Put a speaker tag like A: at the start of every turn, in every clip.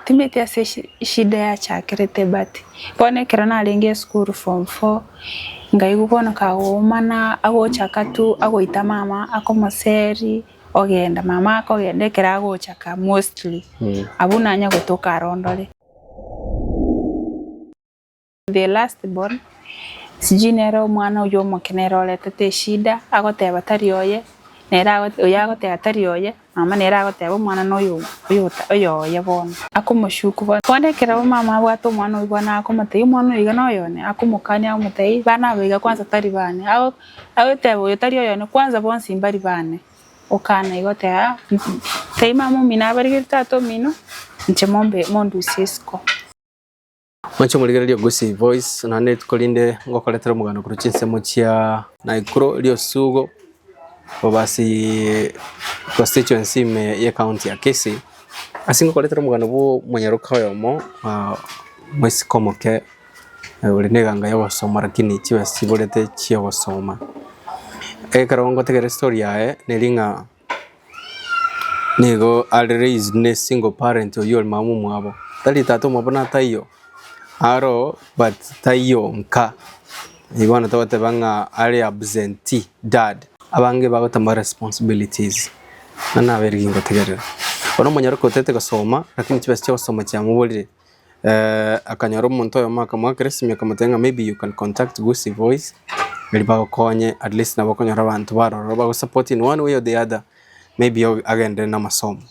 A: Timanyeti ase eshida yachakerete but bono ekero narenge esukuru form four nkaigwa bono kagoumana agochaka tu agoita mama ake omoseri ogenda mama akogenda ekero agochaka mostly abwo nanye gotoka arondore. The last born, sijui nere omwana oyio omoke nere oretete eshida agoteba tari oye, nere ago- oyio agoteba tari oye, mama nere agoteba omwana noyo oyo oyo oye bono. Akomoshuku bono. Bono ekero omama abwate omwana oyio bono akomotebia omwana oyo iga noyone, akomokania akomotebia bana aba iga kwanza tari bane. Ago agoteba oyo tari oyone kwanza bonsi mbari bane. Okana iga oteba ah tebia mama omino abarigerie tata omino, inche mombe mondusie isiko.
B: Moche morigererie Gusii Voice naende rituko rinde ngokoretera omoganda korwa chinsemo chia Naikuru riosugo obasi constituency ime ye county ya Kisii. Ase ngokoretera omoganda bwo omonyaroka oyomo omosike omoke ore na eganga ya ogosoma lakini chibesa chiborete chia ogosoma. Ekero ngotegerera estory yaye neri ng'a. nigo are raised ne single parent oyio ore mama omwabo, tari tata omwabo na taiyo aroo but taiyo nka, eyi bono togoteba ng'a are absentee dad. Abange bagotema responsibilities, buna nabere gingotegerera. Bono omonyoro kotete gosoma lakini chibesa chia ogosoma chiamoborire, akanyora omonto oyomo akamoakeresimia akamotebia ng'a maybe you can contact Gusii Voice erio bagokonye at least nabo okonyora abanto baroro iga bagosupport in one way or the other maybe agenderere na amasomo.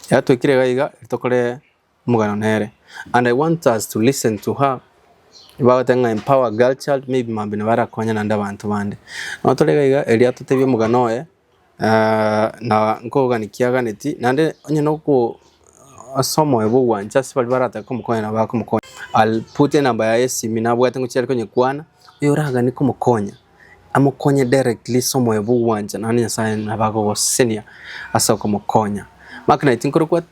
B: Ekero twaikire iga iga tokore omogano nere and I want us to listen to her bagoteba ng'a empower girl child maybe mambia nabo arakonya naende abanto bande. Nabo tore iga iga erio atotebia omogano oye. Aa, na nkogania kiaganeti, naende onye noko ase omoyo bw'ogwancha ase baria baratake komokonya nabo akomokonya. I'll put enamba yaye esimi nabwate ngochia are konyekwana, oyo oragane komokonya amokonye directly ase omoyo bw'ogwancha naende Nyasaye nabo agogosesenia ase okomokonya. Mark naye tinkorokwa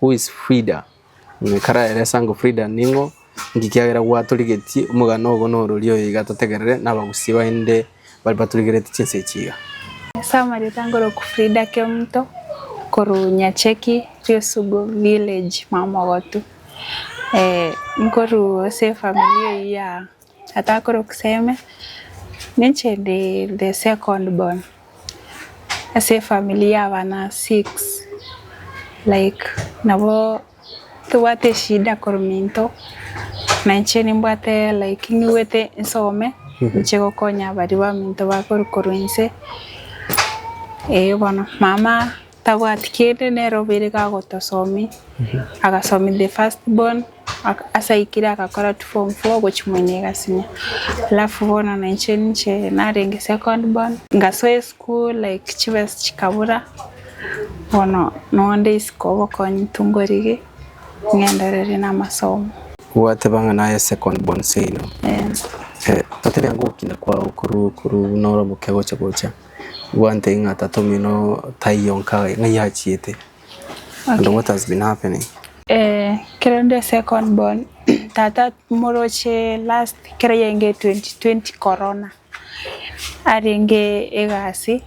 B: Who is Frida? Ng'ai karaere ase ango Frida ning'o? Inki kiagera gwatorigetie omogano ogo norori oyo iga totegerere nabagusii bainde bare batorigerete chinsa echi iga? Ase amarioto
A: angorokwu Frida Kemto korwa Nyacheki Riosugu village Mamogotu, nkorwa ase efamiri eyio ya Atakore okseme ninche ndi the second born ase efamily ya abana six like nabo tobwate eshida korominto na inche nimbwate like niwete nsome ninche gokonya baria baminto bakorwa korwa inse. Eeh bono mama Tabwati kende nere obeire gagotosomi agasomi the first born ase aikire agakora tu form four ogochia moino egasinya alafu bono nainche ninche narenge second born ngasoa eschool like chibesa chikabura bono nonde isiko obokonyi tungorigi ng'endererie namasomo. Gwateba ng'a
B: naye second born seino? Ee. Totebia ngokina kwao korwa korwa buna oromoke gocha gocha. Gwanteiyo ng'a tatomino taiyo nka ng'ai achiete. And what has been happening. Eh kero
A: nde second born tata moroche last kero yainge 2020 corona arenge egasi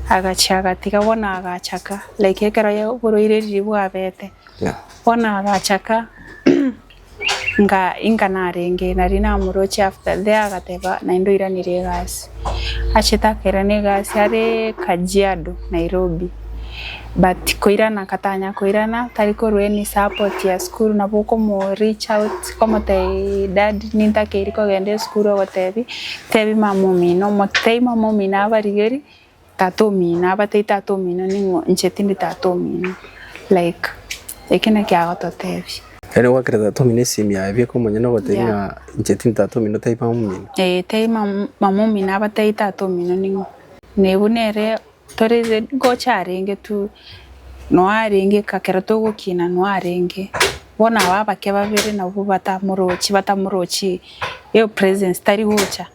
A: agachia agatiga bono agachaka like ekero oborwaire riri bwabete bono agachaka nga inga narenge nari namoroche after there agateba naende oiranire egasi. Achete akairana egasi are Kajiado Nairobi but koirana agatanya koirana tari korwa any support ya school nabo okomo reach out komotebia daddy nintakeiri kogenda esukuru ogotebi tebi mama omino omote tebi mama omino abarigerie Tata omino abatari tata omino ning'o inche tindi tata omino like eki naki agototebia. Yaani gwakera tata
B: omino esemi yaye bweka omonyene ogotebia ng'a inche tindi tata omino tari mama omino. Ee tari
A: mama omino abatari tata omino ning'o. Nee buna ere tore ngocha arenge tu noo arenge ekero togokina noo arenge bono aba abake babere nabwo batamorochi batamorochi eyo presence
B: tari
A: gocha.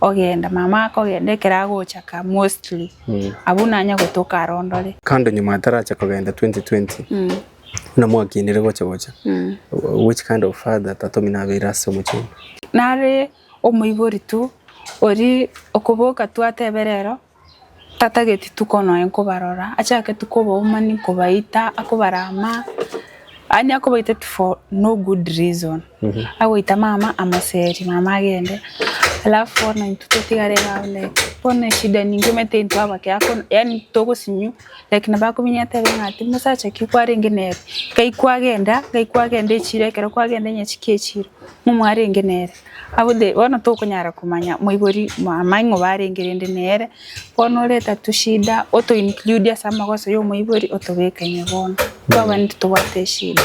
A: Ogenda mama akogenda ekero agochaka mostly abwo nanya gotoka are ondore. Kando nyuma atarache
B: kogenda 2020 buna mwakinire gocha gocha which kind of father tatomi nabeire ase omochie oino? Nare
A: omoibori tu oria okoboka tu atebe rero Tatageti tuko noe nkobarora, achake tuko oboumani nkobaita, akobara ama, yaani akobaita tu for no good reason. Agoita mama amoseri, mama agende. Alafu bono intwe totigare iga like, bono eshida ninki omanyete intwe abake ako, yaani togosinyu, like nabo akominyoka atebe ng'a ati mosacha ki kwarenge nere, gai kwagenda, gai kwagenda echiro ekero kwagenda onye chiki echiro, momwarenge nere. Abwo de, bono tokonyara komanya moibori mwamae ng'o barenge rende nere, bono oreta tushida oto include ase amagoso yomoibori otobeke ime bono. Twabani titobwate eshida.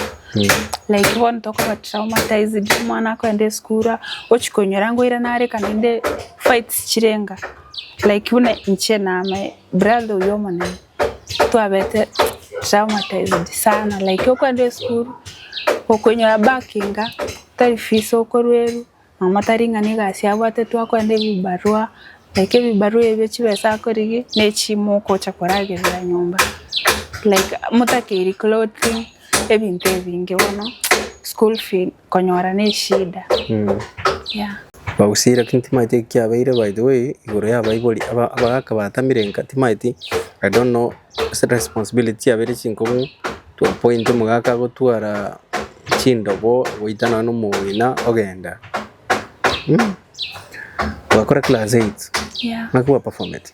A: Like bono tokoba traumatized, omwana akoenda esukura, ochia konyora ng'a oira nareka naende fights chirenga. Like buna inche na my brother oyo omonene. twabete traumatized sana like okwenda esukuru okoinyora bakinga tari fees okorwa eru mama tari ng'a ne egasi abwate twakorende ebibarua like ebibarua ebio chibesa akorigia ne chimo ogocha koragerera nyomba like motakeiri clothing ebinto ebinge bono school fee. konyora ne eshida yeah. Bagusira
B: lakini timaeti eki kiabeire by the way igoro ya abaibori aba abagaka batamire nka timaeti I don't know ase responsibility chiabeire chinkong'u to a point omogaka agotwara chindobo goita nonye na omong'ina ogenda mh. Gwakora class eight yeah. naki gwa
A: performete.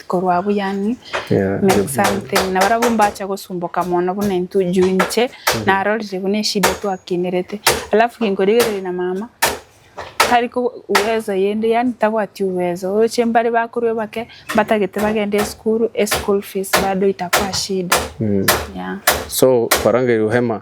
A: korwa abwo yaani Yeah, mean yeah. something na barabwo mbacha gosumboka mono buna intwe juu inche narorire buna eshida twakinerete alafu kinkorigereria na mama tari ko- uwezo yende yaani tabwati uwezo oroche mbare bakorwa bake mbatagete bagende esukuru eschool fees bado itakuwa shida Mm. yeah. so
B: kwarangeirwe hema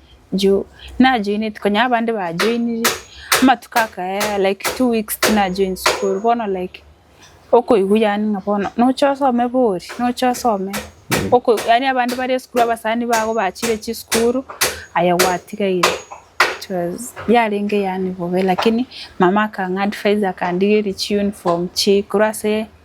A: juu najoineti konya abande bajoiniri amatuko akaya like two weeks tinajoin school bono like okoigwa yaani ng'a bono noche osome bori noche osome oko yaani abande bare esukuru abasani bago bachire chisukuru aye gwatigaire it was yarenge yaani bobe lakini mama akang'a advise akandigeria chi uniform chii korwa ase.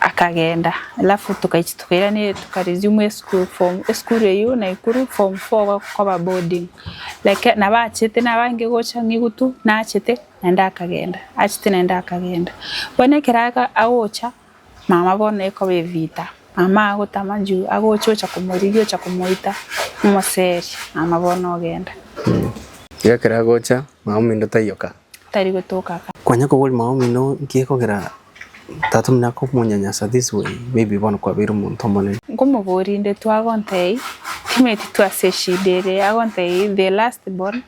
A: Akagenda, alafu tukaichia tukairaneria tuka resume esukuru form esukuru eyio Naikuru form four gokoba boarding like nabo achete nabo abange gocha ng'igutu nachete naende akagenda achete naende akagenda. Bono ekero aga agocha mama bono ekoba evita, mama agotama juu agocha ocha komorigia ocha komoita omoseri mama bono ogenda. Iga
B: ekero agocha mama omino taiyo ka. tari gotoka aka.
A: Kwanya kobori mama omino
B: nki ekogera tata omino akomonyanyasa this way maybe bono kwabeire omonto omonene. Nkomobori inde
A: twagontei timetitu ase eshida ere agontei the last born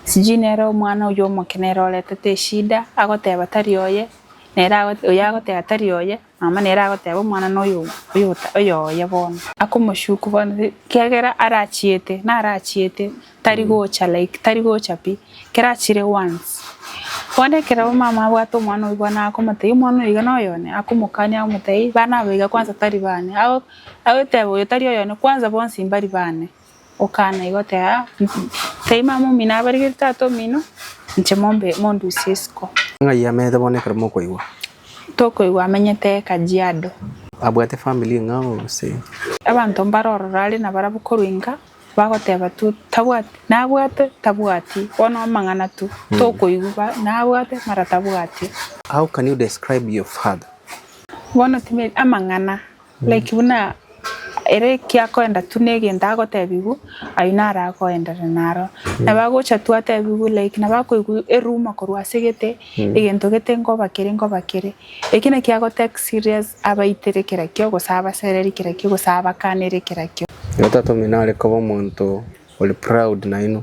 A: sijui nere omwana oyio omoke nere oretete eshida agoteba tari oye nere oyo agoteba tari oye. Mama nere agoteba omwana noyo oyoye bono. Akomoshuku bono kiagera arachiete narachiete tari gocha like tari gocha pi kera achire once bono ekero mama abwate omwana oyio bono akomotebia omwana oyo iga noyone akomokania akomotebia bana aba iga kwanza tari bane agoteba oyo tari oyone kwanza bonsi mbari bane. Okaana igo tera tari mama omino abarigetie tata omino, inche mombe mondusie isiko. Ng'ai amenyete bono
B: ekero mokoigwa? Tokoigwa
A: amenyete Kajiado. Abwate family
B: ng'a gose? Abanto mbare
A: ororo are nabarabwo korwa inga bagoteba tu tabwati nabwate tabwati bono amang'ana tu tokoigwa ba nabwate mara tabwati. How can you
B: describe your father? Bono
A: tiberi amang'ana Like buna ere ekiakoenda tu negento agotebigwa ayio naro akoenderere naro. Nabo agocha tu atebigwe like nabo akoigwa eruma korwa ase gete egento gete nkoba kere nkoba kere. Eki naki ago take serious abaitere kera kio gose abasereri kera kio gose abakanere kera kio. Oyotatomire nare
B: koba omonto ore proud nainwe.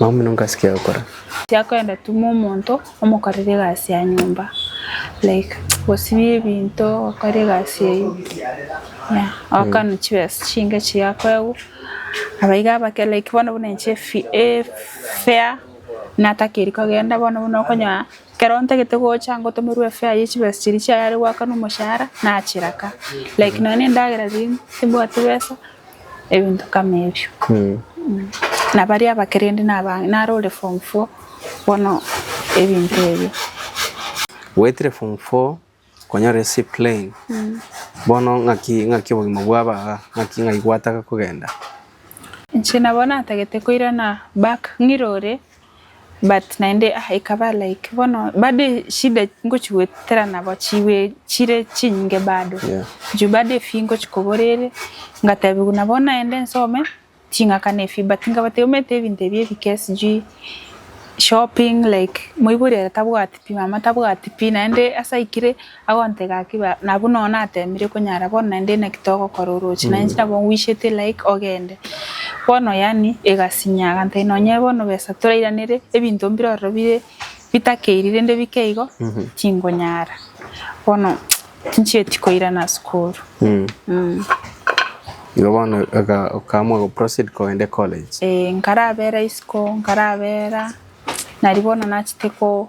A: Maomino
B: nkasikia gokora. Tiakoenda tuma
A: omonto omokorere egasi ya nyomba like gosibia ebinto gokora egasi eyio yeah ogokanwa chibesa chinge chiria akoegwa abaiga abake like bono buna inche efi efare natakeri kogenda bono buna okonyora ekero ntagete gocha ngotomerwa efare ya chibesa chiria chiayare goakanwa omoshahara nachiraka like nonye na endagera riria timbwati besa. ebinto kama ebio. Na baria abakerende nabange, naro ore form four bono ebinto ebio.
B: Goetire form four konyora ase plane bono ng'aki ng'aki obogima bwabo iga ng'aki ng'ai gwataka kogenda? Inche
A: nabo natagete koirana back ng'irore. But naende ah ikaba like bono bado eshida ngochi goetera nabo chiwe chire chinyinge bado. Yeah. Juu bado efi ngochi kobora ere ngatebiwa buna bono naende nsome ching'aka na efi but nkabatebia omanyete ebinto ebi ebike sijui shopping like moibori ere tabwati pi mama tabwati pi naende ase aikire Agontega gaki ba, nabwo nonya nateemire konyara bono naende ina ki togokora oroche naye inche nabo ngwishete like ogende. Bono yaani egasinya agantebia nonye bono besa torairanere ebinto mbire ororo bire bitakeiri rende bike igo tingonyara bono tinchieti koirana sukuru.
B: Igo bono oka- okaamua goproceed kogenda ecollege. Eeh nkarabera
A: isiko nkarabera nari bono nachete ko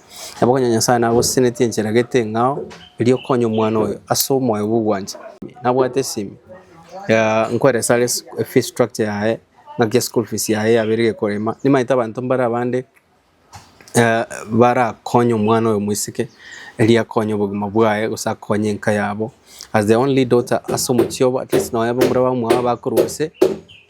B: Nabo onye Nyasae nagosisenetie enchera egete eng'ao, erio okonye omwana oyo ase omoyo bw'ogwancha. Nabwate esimi ya nkoeresa are sk- fee structure yaye, ng'aki eschool fees yaye yabeire gekorema. Nimaete abanto mbare abande eh, barakonye omwana oyo omosike, erio akonye obogima bwaye gose akonye enka yabo as the only daughter ase omochie obo, at least nonye abamura bamwabo bakorwa gose.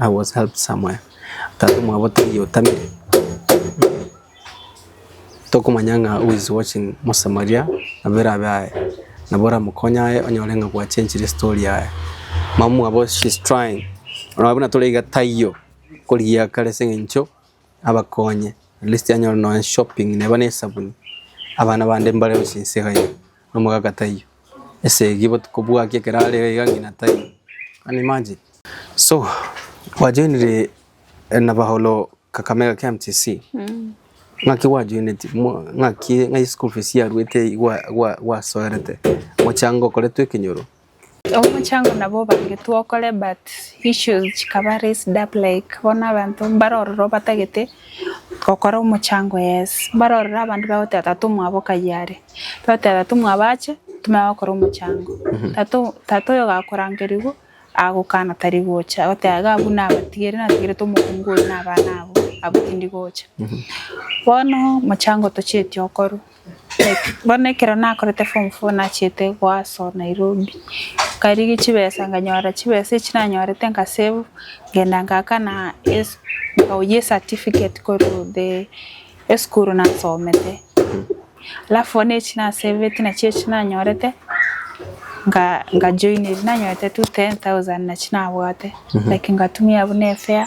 B: I was helped somewhere tata mwabo taiyo otamire tokomanya ng'a who is watching mosamaria nabo erabe aye nabo oramokonye aye onyore ng'a gwa changire story yaye mama mwabo she is trying nabo buna tore iga taiyo korigia kare ase eng'encho abakonye at least anyore nonye shopping neba ne esabuni abana bande mbare gochia inse iga iga. nomogaka taiyo, esegi botuko bwaki ekero are iga iga ng'ina taiyo. Can you imagine? So gwajoinire nabauro Kakamega KMTC, ng'aki gwajoineti? Mo- ng'aki ng'ai school fees yaruete gwa- gwa- gwasoerete? Mochango okoretwe ekenyoro? Omochango
A: nabo obangetwe okore but issues chikaba raised up like bono abanto mbare ororo batagete gokora omochango yes, mbare ororo abanto bagoteba tata omwabo kaiyo are, bagoteba tata omwabo ache timanye gokora omochango, tata o- tata oyo gakorangerigwa agokana tari gocha agoteba iga abwo nabatigere natigerete omokungu oyo na abana abwo, abwo tindi gocha. Bono omochango tochieti okorwa, Bono ekero nakorete form four nachiete goaso Nairobi, nkarigia chibesa nkanyora chibesa echio nanyorete nka save nkagenda ngakana esi nkawoyia esatificate korwa the esukuru nasomete. Alafu bono echio nasaveti nachio echio nanyorete nka nkajoinia ebi nanyorete tu ten thousand nachio nabwate like ngatumia buna efare.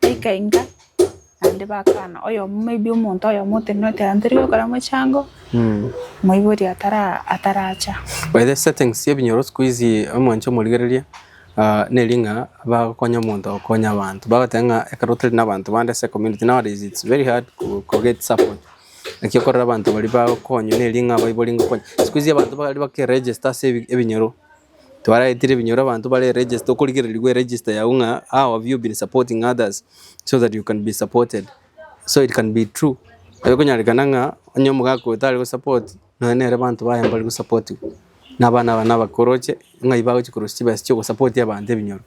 A: ekainga naende bakana oyomo may be omonto oyomo otenenerete aye tori gokora mochango moibori atara ataracha. By the settings
B: sia ebinyoro sikuizi omonche omorigereria ah, neri ng'a bagokonya omonto agokonya abanto bagoteba ng'a ekero tari na abanto bande ase ecommunity nowadays it's very hard ko- koget support naki okorora abanto baria bagokonywa neri ng'a baibori ngokonya sikuizi abanto baria bakeregister ase ebi- ebinyoro. twaraetire ebinyoro abanto bare register okorigererigwa eregister yago ng'a how have you been supporting others so that you can be supported so it can be true ekonyarekana ng'a onye omogaka oyo tare gosupport nonya nere abanto baye mbare gosapotigwa na abana abane abakoroche ng'ai bagochi korosia chibesa chia ogosapotia abanto ebinyoro.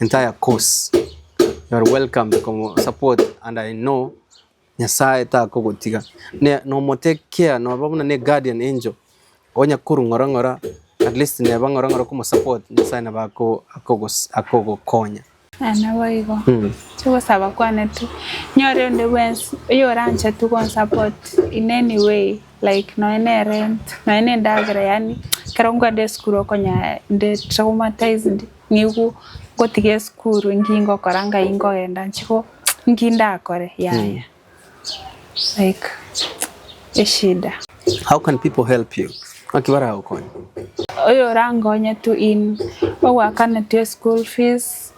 B: entire course. You are welcome to come support and I know Nyasaye takogotiga. Ne nomote care noba buna ne guardian angel onya kuru ng'ora ng'ora at least neba ng'ora ng'ora komo support Nyasaye naba ako- akogos- akogokonya. Aye naboigo.
A: Mm. Chigosaba kwane tu. Nyore onde bwensi oyoranche tu konsapoti in any way. Like nonya ne rent nonya ne endagera yaani ekero nkwenda esukuru okonya inde traumatized nigo ngotiga esukuru nki ngokora ngai nkogenda nchigo nki ndakore yaya like eshida. How can
B: people help you? Naki baragokonye? Oyo
A: orankonye tu in ogoakana tu eschool fees.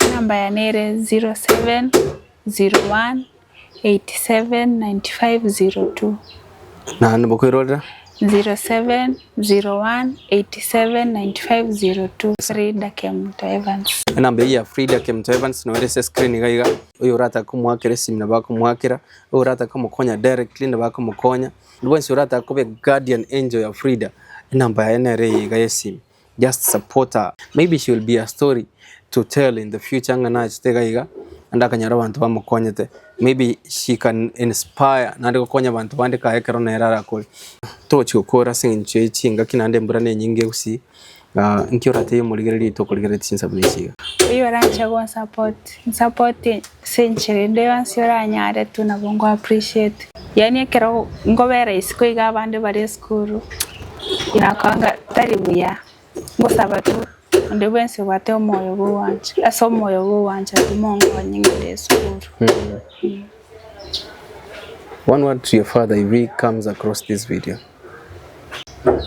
B: Enamba yane
A: ere 0701879502. Naende
B: bokoirorera. 0701879502
A: Frida Kemto Evans. Enamba eyio ya Frida
B: Kemto Evans noyo ere ase screen iga iga. Oyo oratake komoakera esimi nabo akomoakera, oyo oratake komokonya directly nabo akomokonya. Bwensi oratake koba eguardian angel ya Frida, enamba yaye nere eye iga y'esimi. Just support her. Maybe she will be a story to tell in the future ng'a nachete iga iga naende akanyora abanto bamokonyete. Maybe she can inspire naende gokonya abanto bande kae ekero nere arakore. Togochi gokora ase eng'encho ye chingaki naende embura nenyinge gusii. Inki oratebie omorigereria oito okorigereretie chinsabu na echi iga? Oyio oranche
A: gonsupport, nsupporte. Ase enchera ende yonsi oranyare tu nabo nko appreciate. Yaani ekero nkobera isiko iga abande bare esukuru nakoranga tari buya ngosaba tu onde bwensi obwate omoyo bwa ogwancha ase omoyo bwa ogwancha tu monkonye ngende esukuru.
B: One word to your father if he comes across this video.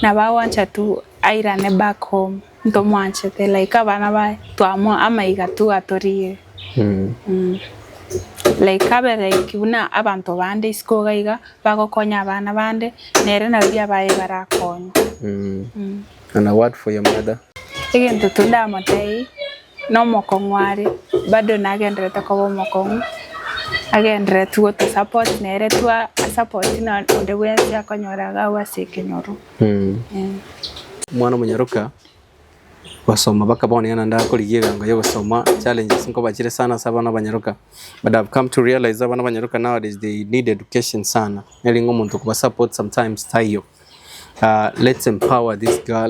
A: Nabagwancha tu airane back home ntomwanchete like abana baye twamoa amaiga tu atorire like abe like buna abanto bande isiko iga iga bagokonya abana bande nere nabaria baye barakonye.
B: And a word for your mother. Egento tu
A: ndamotebie, nomokong'u are, bado nagenderete koba omokong'u, agenderere tu gotosupport nere tu a support no onde bwensi akonyora iga abwo ase ekenyoru. Eh.
B: Omwana omonyaroka gosoma baka bono naende akorigia egango ya gosoma challenges nkoba chire sana ase abana abanyaroka but I've come to realize abana abanyaroka nowadays they need education sana nere ng'a omonto okoba support sometimes taiyo Let's empower this girl,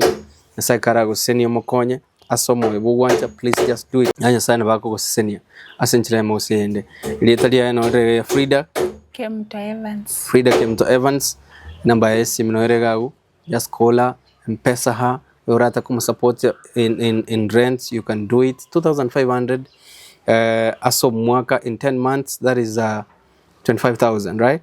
B: Nyasaye kare agosesenie omokonye ase omoyo bw'ogwancha please just do it. Yaani Nyasaye nabo akogosesenia ase enchera emo gose eyende. Erieta riaye noro rere ria Frida, Kemto
A: Evans. Frida Kemto Evans,
B: enamba yaye esimu noro ere iga agwo. Just call her, mpesa her, oyo orata komosupport in, in, in rent you can do it. 2500 eh, ase omwaka in 10 months that is uh, 25000 right?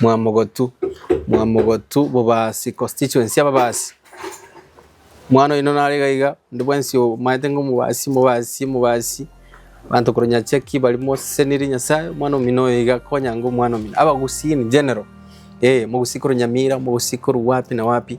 B: Mwamogotu, Mwamogotu bobasi, constituency y'ababasi. Omwana oino nare iga iga, onde bwensi omanyete ng'a omobasi, omobasi, omobasi, abanto korwa nyachaki baria moseseniri Nyasaye, omwana omino oyo iga akonyanga omwana omino. Abagusii in general, eh, omogusii korwa Nyamira, omogusii korwa wapi na wapi.